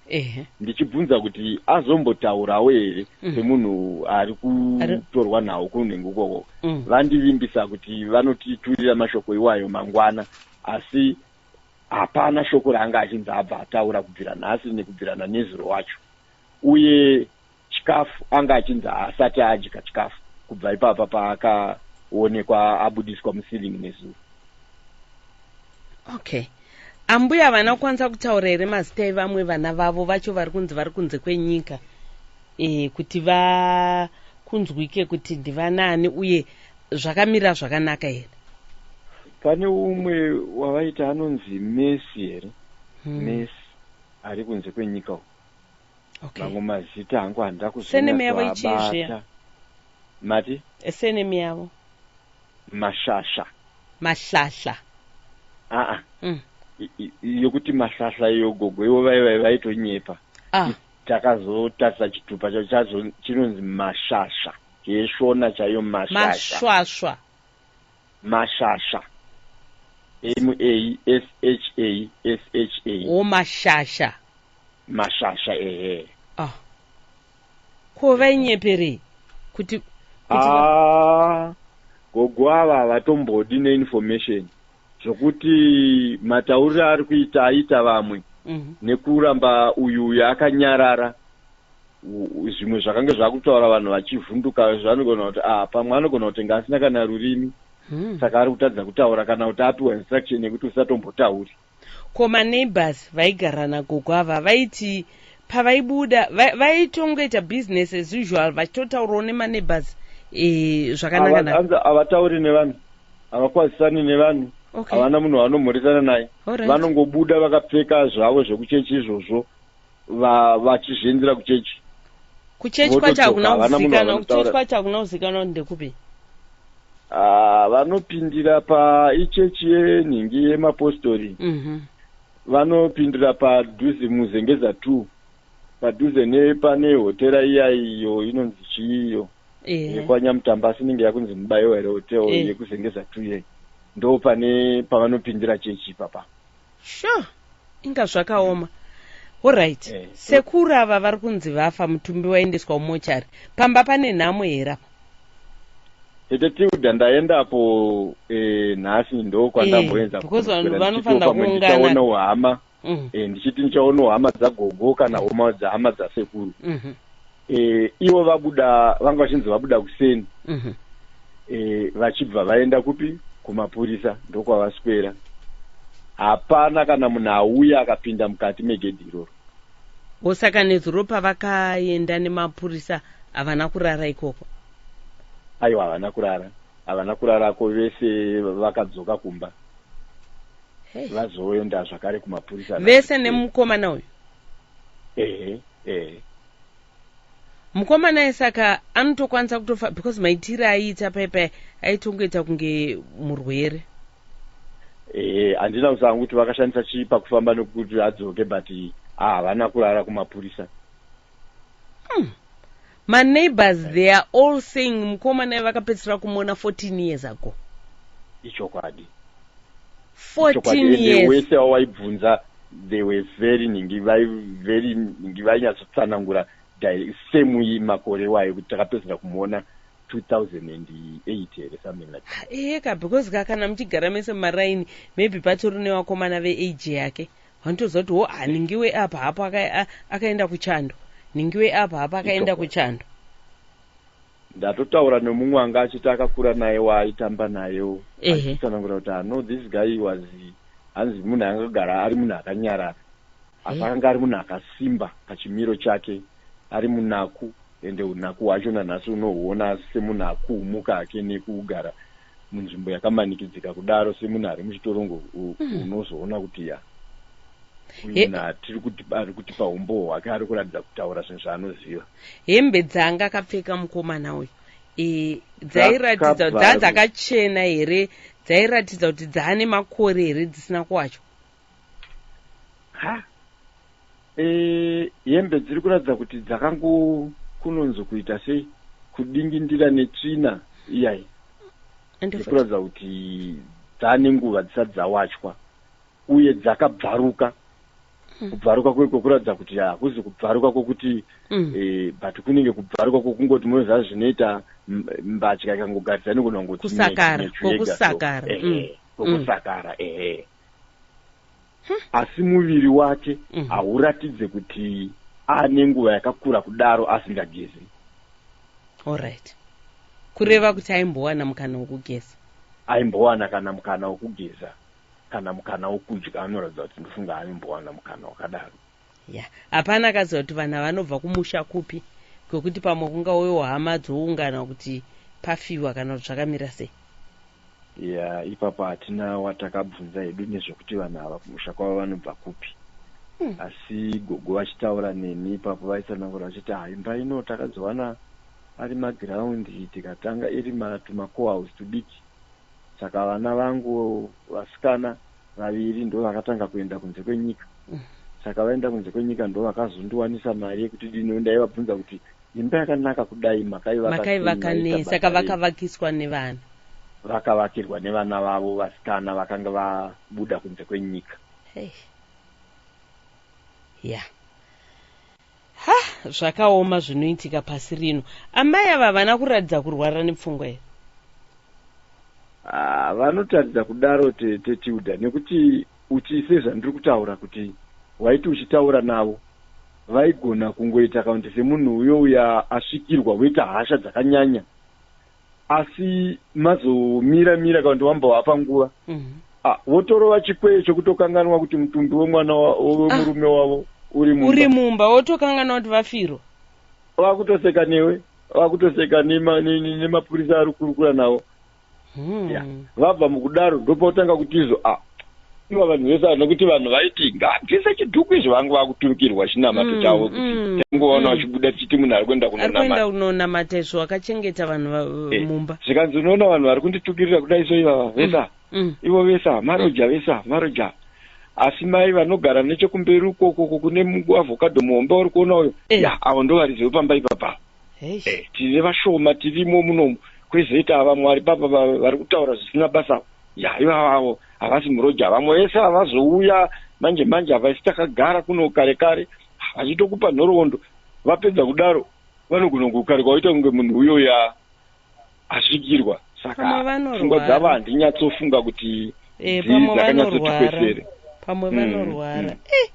ndichibvunza kuti azombotaurawo here mhm. semunhu ari kutorwa nhau kunenge ukoko mm. vandivimbisa kuti vanotiturira mashoko iwayo mangwana asi hapana shoko raanga achinzi abva ataura kubvira nhasi nekubvira nanezuro wacho uye chikafu anga achinzi haasati adya chikafu kubva ipapa paakaonekwa abudiswa muceiling nezuro okay ambuya havana kukwanisa kutaura here mazita evamwe vana vavo vacho vari kunzi vari kunze kwenyika e, kuti vakunzwike kuti ndivanaani uye zvakamira zvakanaka here pane umwe wavaita anonzi mesi here hmm. mesi ari kunze kwenyika uku okay mamwe mazita hangu handida Surname yavo ichii zviya? kuzvinyatsovabata mati Eh, surname yavo mashasha mahlahla aa mm. i- i- i- yokuti mahlahla iyo gogo ivo vai vai vaitonyepa ah takazotarisa chitupa chacho chazo chinonzi mashasha yeshona chaiyo mashasha masvasva mashasha m-a-s-h-a-s-h-a o mashasha mashasha ehe ah. ko vainyeperei kuti ah, gogo ava vatombodi neinformation zvokuti matauriro aari kuita aita vamwe mhm. nekuramba uyu uyu akanyarara zvimwe zvakange zvakutaura vanhu vachivhunduka zvanogona kuti ah pamwe anogona kutenga asina kana rurimi hmm. saka ari kutadza kutaura kana kuti apiwa instruction yekuti usatombotauri ko maneighbors vaigara nagogo ava vaiti pavaibuda vaitongoita va, business as usual vachitotaurawo nemaneighbors e, eh, zvakanaka havatauri nevanhu havakwazisani nevanhu okay. havana munhu vanomhoresana naye right. vanongobuda vakapfeka zvavo zvekuchechi izvozvo vachizvienzera va kuchechi kuchechi kwacho hakuna kuzikanwa kuchechi kwacho hakuna kuzikanwa kuti ndekupi ah, vanopindira paichechi yenhingi yemapostori mm -hmm. vanopindira padhuze muzengeza two padhuze nepane hotera iya iyo inonzi chiiyo yeah. yekwanyamutamba asi inenge yakunzi mubayo here hotel yeah. yekuzengeza two yei ndo pane pavanopindira chechi ipapa sure inga zvakaoma orit yeah. yeah. sekuru ava vari kunzi vafa mutumbi waendeswa umochari pamba pane nhamo here apa tete tilda ndaendapo eh, nhasi ndo kwandamboenza eh, because vanhu vanofanira kuungana uhama mm. e, ndichiti ndichaonawo hama dzagogo kana mm. homa dzahama dzasekuru mm -hmm. e, ivo vabuda vanga vachinzi vabuda kuseni mm -hmm. e, vachibva vaenda kupi kumapurisa ndokwavaswera hapana kana munhu auya akapinda mukati megedhi iroro osaka nezuro pavakaenda nemapurisa havana kurara ikoko aiwa havana kurara havana kurarako vese vakadzoka kumba vazoenda zvakare kumapurisa vese nemukomana uyu ehe ehe mukomana ye saka anotokwanisa kutofa because maitire aiita paipa aitongoita kunge murwere ehe handina kuziva kuti vakashandisa chii pakufamba nekuti adzoke but ah, havana kurara kumapurisa Hmm. My neighbors they are all saying mukoma naye vakapedzisira kumuona 14 years ago. Ichokwadi. 14 years. Wese wawaibvunza they were very ningi vai very ningi vainyatsotsanangura same iyi makore iwayo kuti takapedzisira kumuona 2008 here something like that. Iyeka because ka kana muchigara mese maraini maybe patori nevakomana veage yake. Vanotoziva kuti wo ah, Ningiwe apa hapo aka, a, akaenda kuchando. Ningiwe apa hapa akaenda Itoka. kuchando. ndatotaura nemumwe anga achiti akakura naye waaitamba nayewo Ehe. achitsanangura kuti ano this guy was hanzi munhu angagara ari munhu akanyarara asi Eh. akanga ari munhu akasimba pachimiro chake ari munaku ende unaku hwacho nanhasi unohuona semunhu akumuka hake nekugara munzvimbo yakamanikidzika kudaro semunhu ari muchitorongo hmm. unozoona mm. kuti ya uyuna tiri kuti ari kuti paumbowo hwake ari kuratidza kutaura zvinhu zvaanoziva hembe dzaanga akapfeka mukomana uyu e, dzairatidza dzaa dzakachena here dzairatidza kuti dzaane makore here dzisina kuwacho ha e, hembe dziri kuratidza kuti dzakangokunonzo kuita se kudingindira netsvina iyayi dziri kuratidza kuti dzaane nguva dzisati dzawachwa uye dzakabvaruka hmm. kubvaruka kweko kuratidza kuti hakuzi kubvaruka kwokuti hmm. e, but kunenge kubvaruka kwokungoti munoziva zvinoita mbatya ikangogaridza inogona kungotikusakara kwokusakara ehe hmm. asi muviri wake mhm. hauratidze mm -hmm. kuti ane nguva yakakura kudaro asingagezi allright kureva kuti aimbowana mukana wokugeza aimbowana kana mukana wokugeza kana mukana wokudya anoratidza kuti ndofunga aimbowana mukana wakadaro Yeah. Hapana akaziva kuti vanhu vanobva kumusha kupi kwekuti pamwe kungauyewo hama dzoungana kuti pafiwa kana kuti zvakamira sei ya ipapo hatina watakabvunza hedu nezvekuti vanhu ava kumusha kwavo vanobva kupi hmm. asi gogo vachitaura neni ipapo vaitsanangura vachiti ha imba ino takazowana ari magiraundi tikatanga iri tumacohouse tudiki saka vana vangu vasikana vaviri ndovakatanga kuenda kunze kwenyika saka vaenda kunze kwenyika ndovakazondiwanisa mari yekuti dino ndaivabvunza kuti imba yakanaka kudai makaivakanei saka vakavakiswa nevana vakavakirwa nevana vavo vasikana vakanga vabuda kunze kwenyika hey. yeah. Ha, zvakaoma zvinoitika pasi rino. Amai ava havana kuratidza kurwara nepfungwa here? Ah, vanotaridza kudaro tete Tilda nekuti uti sezvandiri kutaura kuti waiti uchitaura navo vaigona kungoita kaunti semunhu uyo uya asvikirwa woita hasha dzakanyanya asi mazomira mira kana kuti wambovapa nguva mhm. ah, votorova chikwee chokutokanganwa kuti mutumbi wemwana wemurume ah. wavo uri mumba uri mumba wotokanganwa kuti vafirwa vakutoseka newe vakutoseka nemapurisa ari kurukura navo hmm. vabva mukudaro ndopotanga kutizo a ah, iwa vanhu vese vanhu kuti vanhu vaiti ngabvise chidhuku izvo vange vakuturikirwa chinamato mm, chavo kuti mm, tangoona mm. vachibuda tichiti munhu ari kuenda kunonamata kunonamata izvo wakachengeta vanhu eh, mumba zvikanzi unoona vanhu vari kunditukirira kudai so ivava vesa ivo vesa maroja vesa maroja asi mai vanogara nechekumberi ukokoko kune avhokadho muhombe wari kuona uyo eh. ya avo ndo varidzi vepamba ipapa eh, tine vashoma tirimo munomu kwezeta ava mwari papa vari kutaura zvisina basa ya ivavavo havasi muroja vamwe vese havazouya manje manje havaisi takagara kuno kare kare vachitokupa nhoroondo vapedza kudaro vanogona kukarika waita kunge munhu uyo ya asvikirwa saka pfungwa dzavo handinyatsofunga kuti eh, dzakanyatsotikwesere pamwe mm, vanorwara mm. Eh,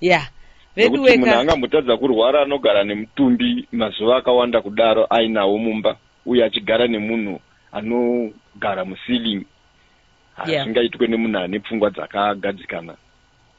ya veduweka munhu angambotadza kurwara anogara nemutumbi mazuva akawanda kudaro ainawo mumba uye achigara nemunhu anogara muceiling hazvingaitwe yeah. nemunhu ane pfungwa dzakagadzikana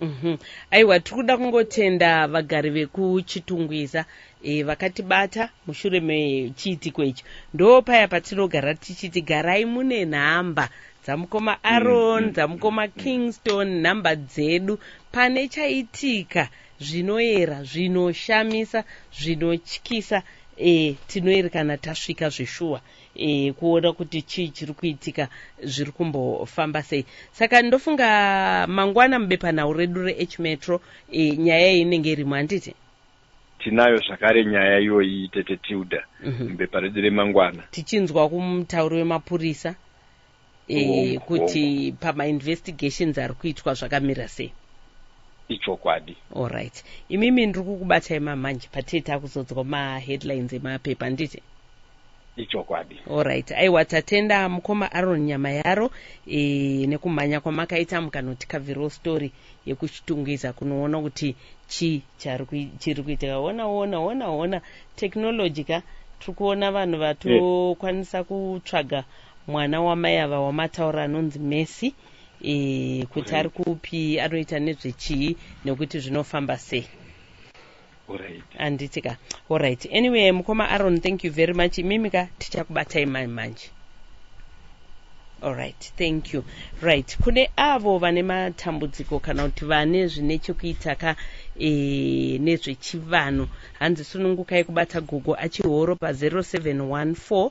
mm -hmm. aiwa tiri kuda kungotenda vagari vekuchitungwiza e, vakatibata mushure mechiitiko icho ndo paya patinogara tichiti garai mune nhamba dzamukoma mm, aron mm, dzamukoma mm, kingston nhamba dzedu pane chaitika zvinoera zvinoshamisa zvinotyisa e, tinoerekana tasvika zveshuwa e, kuona kuti chii chiri kuitika zviri kumbofamba sei saka ndofunga mangwana mubepanhau redu reh metro e, nyaya iyi inenge irimo handiti tinayo zvakare nyaya iyoyi tete tilda mhm. mubepa redu remangwana tichinzwa kumutauri wemapurisa e, kuti pamainvestigations ari kuitwa zvakamira sei ichokwadi allright imimi ndiri kukubatai mamanje patie takuzodzwa maheadlines emapepa handiti ichokwadi allright aiwa tatenda mukoma aron nyama yaro e, nekumhanya kwamakaita mukanotikavhirawo story yekuchitungwiza kunoona kuti chii chiri kuitika ona ona ona ona technology ka tiri kuona vanhu vatokwanisa kutsvaga mwana wamai ava wamataura anonzi mesi e, eh, kuti ari kupi anoita nezvechii nekuti zvinofamba sei handiti ka allright anyway mukoma aron thank you very much imimi ka tichakubatai mani manje allright thank you right kune avo vane matambudziko kana kuti vane zvine chekuita ka e, nezvechivanhu hanzi sunungukai kubata gogo achihoro pa 0714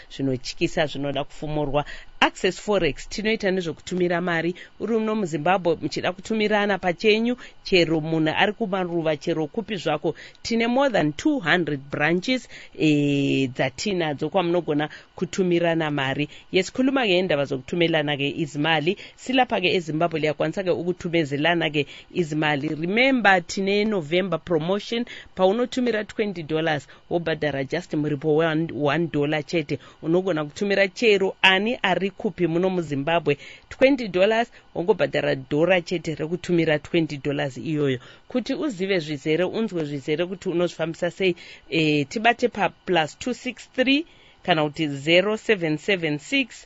zvinotyisa zvinoda kufumurwa access forex tinoita nezvekutumira mari uri uno muzimbabwe muchida kutumirana pachenyu chero munhu ari kumaruva chero kupi zvako tine more than 200 branches e, dzatinadzo kwamunogona kutumirana mari yes khuluma ke indaba zokutumelana ke izimali silapha ke ezimbabwe liyakwanisa ke ukutumezelana ke izimali remember tine november promotion paunotumira 20 dollars wobhadhara just muripo we one dollar chete unogona kutumira chero ani ari kupi muno muzimbabwe 20 dollars wongobhadhara dhora chete rekutumira 20 dollars iyoyo kuti uzive zvizere unzwe zvizere kuti unozvifambisa sei e, tibate paplus 263 kana kuti 0776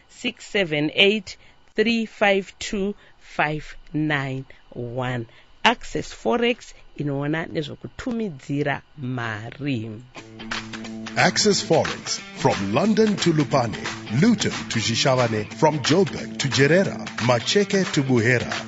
678352591 access forex inoona nezvekutumidzira mari Access Forex from London to Lupane, Luton to Shishavane, from Joburg to Jerera, Macheke to Buhera.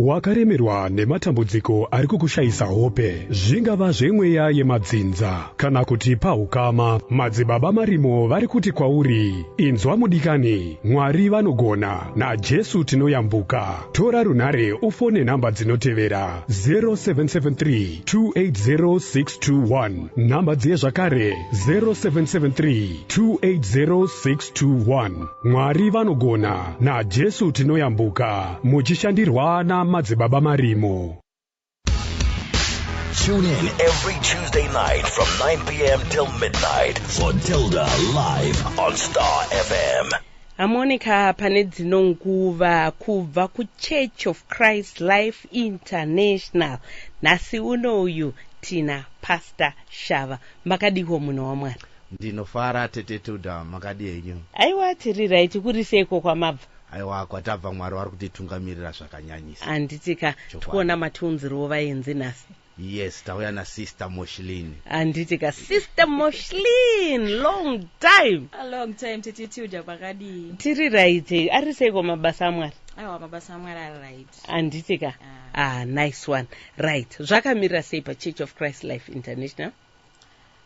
Wakaremerwa nematambudziko ari kukushayisa hope, zvingava zvemweya yemadzinza kana kuti pahukama. Madzibaba Marimo vari kuti kwauri, Inzwa mudikani, Mwari vanogona, naJesu tinoyambuka. Tora runhare ufone nhamba dzinotevera, 0773280621, nhamba dziye zvakare, 0773280621. Mwari vanogona naJesu tinoyambuka muchishandirwa na madzibaba marimo. Tune in every Tuesday night from 9 p.m. till midnight for Tilda live on Star FM. Amonika pane dzino nguva kubva kuChurch of Christ Life International nhasi uno uyu tina Pastor Shava makadihwo munhu wamwana Ndinofara tete Tilda makadii henyu. Aiwa tiri right kuri seiko kwamabva. Aiwa kwatabva Mwari vari kutitungamirira zvakanyanyisa. Handiti ka Chokwadi. tikuona matiunzirwo vaenzi nhasi. Yes tauya na sister Moshlin. Handiti ka sister Moshlin long time. A long time tete Tilda makadii. Tiri right ari seiko mabasa aMwari. Aiwa mabasa aMwari ari right. Handiti ka. Ah. Ah nice one. Right zvakamirira sei pa Church of Christ Life International.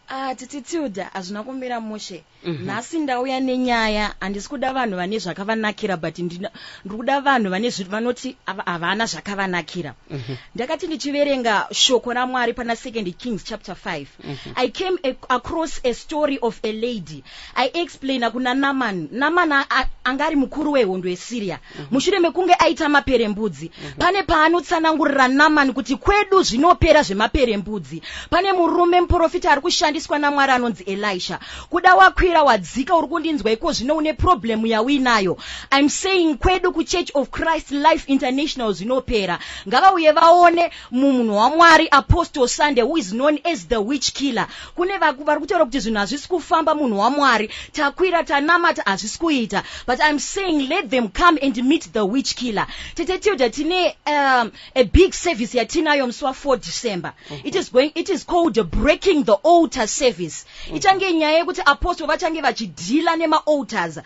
Ah, titi Tilda hazvina kumira mushe. Mhm. Nhasi ndauya nenyaya, handisi kuda vanhu vane zvakavanakira but ndina- ndiri kuda vanhu vane zvi- vanoti hava- havana zvakavanakira. Mhm. Ndakati ndichiverenga shoko raMwari pana Second Kings chapter 5. Mhm. I came ac- across a story of a lady Aiexplainer kuna Naman. Naman a- a- anga ari mukuru wehondo yeSyria. Mushure mekunge aita maperembudzi, pane paanotsanangurira Naman kuti kwedu zvinopera zvemaperembudzi. Pane murume muporofita ari kushandiswa naMwari anonzi Elisha. Kuda wakwira wadzika uri kundinzwa iko zvino une problem yauinayo. I'm saying kwedu kuChurch of Christ Life International zvinopera. Ngavauye vaone Munhu waMwari Apostle Sunday who is known as the witch killer. Kune vaku vari kutaura kuti zvinhu hazvisi kufamba munhu waMwari. Takwira tanamata hazvisi kuita. But I'm saying let them come and meet the witch killer. Tete Tilda tine um, a big service yatinayo musi wa 4 December. It is going it is called breaking the altar service. ichange nyaya yekuti apostle vachange vachidhila nemaalters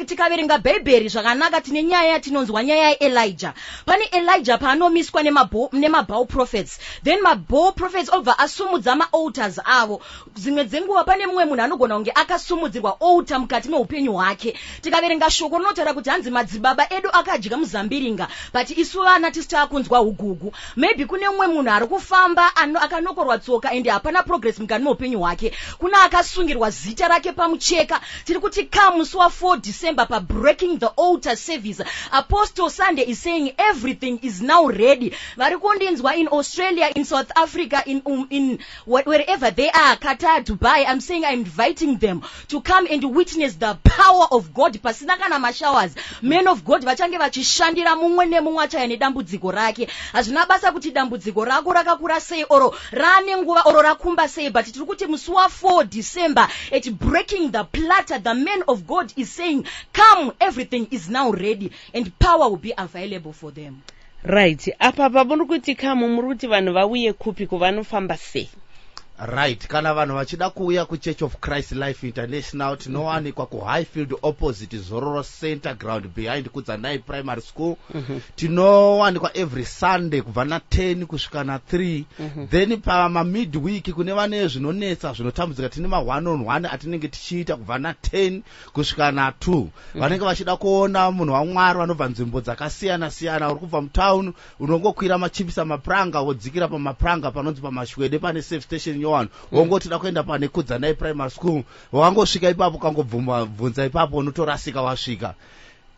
tikaverenga bhaibheri zvakanaka tine nyaya yatinonzwa nyaya yaelija pane elija paanomiswa nemabhal prophets then mabhal prophets obva asumudza maalters avo dzimwe dzenguva pane mumwe munhu anogona kunge akasumudzirwa alter mukati meupenyu hwake tikaverenga shoko rinotaura kuti hanzi madzibaba edu akadya muzambiringa but isu vana tisi taakunzwa ugugu maybe kune umwe munhu ari kufamba akanokorwa tsoka ende hapana progress mukati meupenyu hwake kune akasungirwa zita rake pamucheka tiri kuti ka musi wa 4 december pabreaking the alter service apostle sunday is saying everything is now ready vari kundinzwa in australia in south africa in, um, in wherever they are qatar dubai im saying im inviting them to come and witness the power of god pasina kana mashowers man of god vachange vachishandira mumwe nemumwe achaya nedambudziko rake hazvina basa kuti dambudziko rako rakakura sei oro raane nguva oro rakumba sei but tiri kuti musi wa4 december at breaking the platter the man of god is saying come everything is now ready and power will be available for them Right. Apa pamuri kuti kamu muri kuti vanhu vauye kupi kuvanofamba sei? Right. Kana vanhu vachida kuuya kuChurch of Christ Life International tinowanikwa mm -hmm. kuHighfield opposite Zororo Center ground behind Kudzanai Primary School. Mm -hmm. Tinowanikwa every Sunday kubva na 10 kusvika na 3. Mm -hmm. Then pama midweek kune vane zvinonetsa zvinotambudzika tine ma one on one atinenge tichiita kubva na 10 kusvika na two mm -hmm. vanenge vachida kuona munhu wamwari vanobva nzvimbo dzakasiyana siyana uri kubva mutown unongokwira machipisa mapuranga wodzikira pamapuranga panonzi pamashwede pane safe station nyowani mm. wongoti da kuenda pane kudzanai primary school wangosvika ipapo kangobvunza ipapo unotorasika wasvika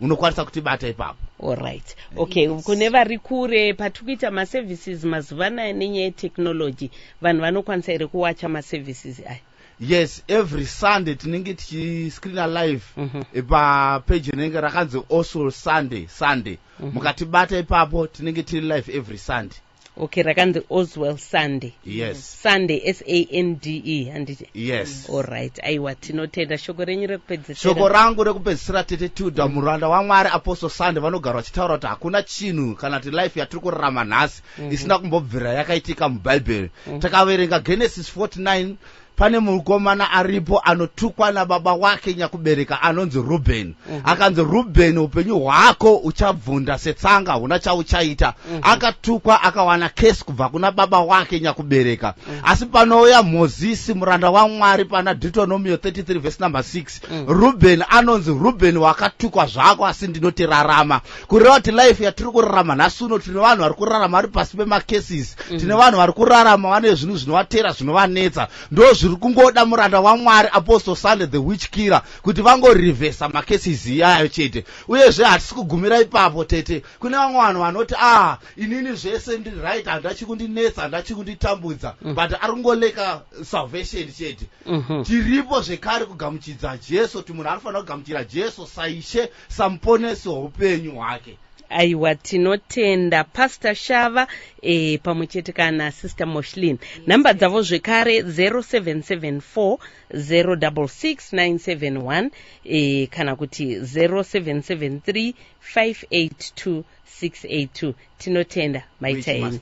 unokwanisa kutibata ipapo allright okay yes. kune vari kure patiri kuita maservices mazuva anaya nenyaya yetechnology vanhu vanokwanisa here kuwacha maservices aya yes every sunday tinenge tichiscreena live mm -hmm. papeji rinenge rakanzi also sunday sunday mm -hmm. mukatibata ipapo tinenge tiri live every sunday okay rakanzi oswell sunday yes sunday s-a-n-d-e handiti yes allright aiwa tinotenda shoko renyu rekupedzisira shoko rangu rekupedzisira tete tilda mm. muranda wamwari apostle sunday vanogara vachitaura kuti hakuna chinhu kana kuti life yatiri kurarama nhasi mm -hmm. isina kumbobvira yakaitika mubhaibheri mm -hmm. takaverenga genesis 49 pane mukomana aripo anotukwa nababa wake nyakubereka anonzi rubheni mm -hmm. akanzi rubheni upenyu hwako uchabvunda setsanga huna chauchaita mm -hmm. akatukwa akawana kesi kubva kuna baba wake nyakubereka mm -hmm. asi panouya mozisi muranda wamwari pana deuteronomio 33 vhesi number 6 mm -hmm. rubheni anonzi rubheni wakatukwa zvako asi ndinotirarama kureva kuti life yatiri kurarama nhasi uno tine vanhu vari kurarama vari pasi pemacases mm. tine vanhu vari kurarama vane zvinhu zvinovatera zvinovanetsa ndo zviri kungoda muranda wamwari apostle sunday the witch killer kuti vangorevhesa macases iyayo chete uyezve hatisi kugumira ipapo tete kune vamwe vanhu vanoti ah inini zvese ndiri right handachi kundinetsa handachi kunditambudza mm. but ari kungoleka salvation chete mm -hmm. tiripo zvekare kugamuchidza jesu kuti munhu anofanira kugamuchira jesu saishe samuponesi weupenyu hwake aiwa tinotenda pastor shava e, pamwe chete kana sister moshlin nhamba dzavo zvekare 0774 066971 e, kana kuti 0773 582 682 tinotenda maitaeni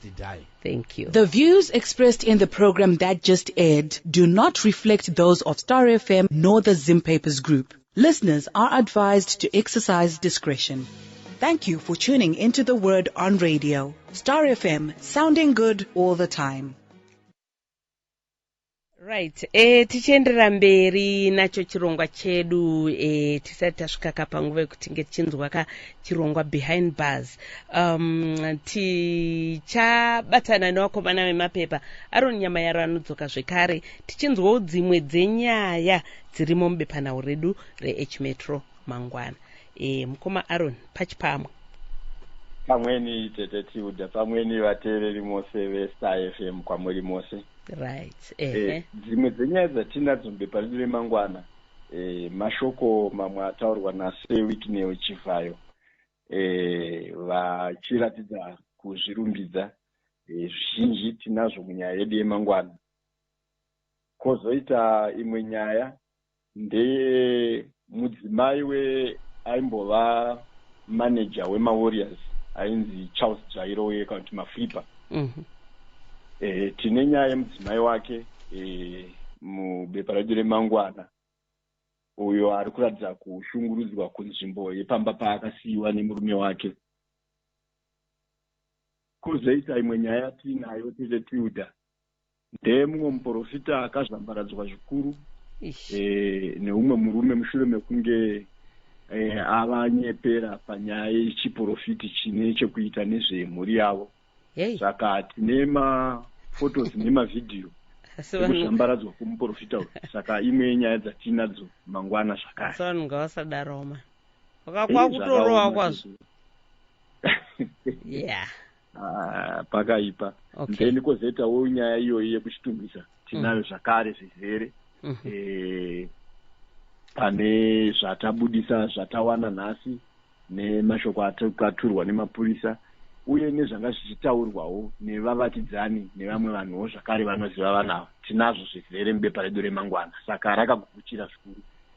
Thank you. The views expressed in the program that just aired do not reflect those of Star FM nor the Zim Papers Group. Listeners are advised to exercise discretion. Thank you for tuning into the word on radio. Star FM, sounding good all the time. right e, tichienderera mberi nacho chirongwa chedu e, tisati tasvika ka panguva yekuti tinge tichinzwa ka chirongwa behind bars um, tichabatana nevakomana vemapepa aron nyama yaro anodzoka zvekare tichinzwawo dzimwe dzenyaya dzirimo mubepanhau redu rehmetro mangwana e, mukoma aron pachipamwe pamweni tete tilda pamweni vateereri mose vestar fm kwamuri mose right eh, dzimwe dzenyaya dzatinadzo mubepa redu remangwana eh, mashoko mamwe ataurwa nase wikneo chivhayo eh, vachiratidza kuzvirumbidza eh, zvizhinji tinazvo munyaya yedu yemangwana Kozoita imwe nyaya ndeye mudzimai we aimbova manager wemaWarriors ainzi Charles Jairo uye kana kuti Maflipa. Mm -hmm. E, eh, tine nyaya yemudzimai wake e, mubepa redu remangwana uyo ari kuratidza kushungurudzwa kunzvimbo yepamba paakasiyiwa nemurume wake kozoita imwe nyaya tiinayo tete tilda ndemumwe muporofita akazvambaradzwa zvikuru e, neumwe murume mushure mekunge e, avanyepera panyaya yechiporofiti chine chekuita nezvemhuri yavo saka hey. tine mafotos nemavhidhiyo ekuzvambaradzwa kwemuporofita uyu saka imwe yenyaya dzatiinadzo mangwana zvakare so vanhu ngavasadaroma vakakwa kutorowa kwazvo yeah Ah, pakaipa okay. then kozoitawo nyaya iyoyi yekuchitumbisa tinayo mm. zvakare zvizere mm -hmm. e, pane zvatabudisa zvatawana nhasi nemashoko atakaturwa nemapurisa uye nezvanga zvichitaurwawo nevavakidzani nevamwe vanhuwo zvakare vanoziva vanava tinazvo zvizere mubepa redu remangwana saka rakakukuchira zvikuru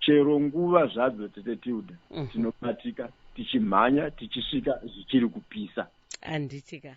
chero nguva zvadzo tete tilda mhm. tinobatika tichimhanya tichisvika zvichiri kupisa handitika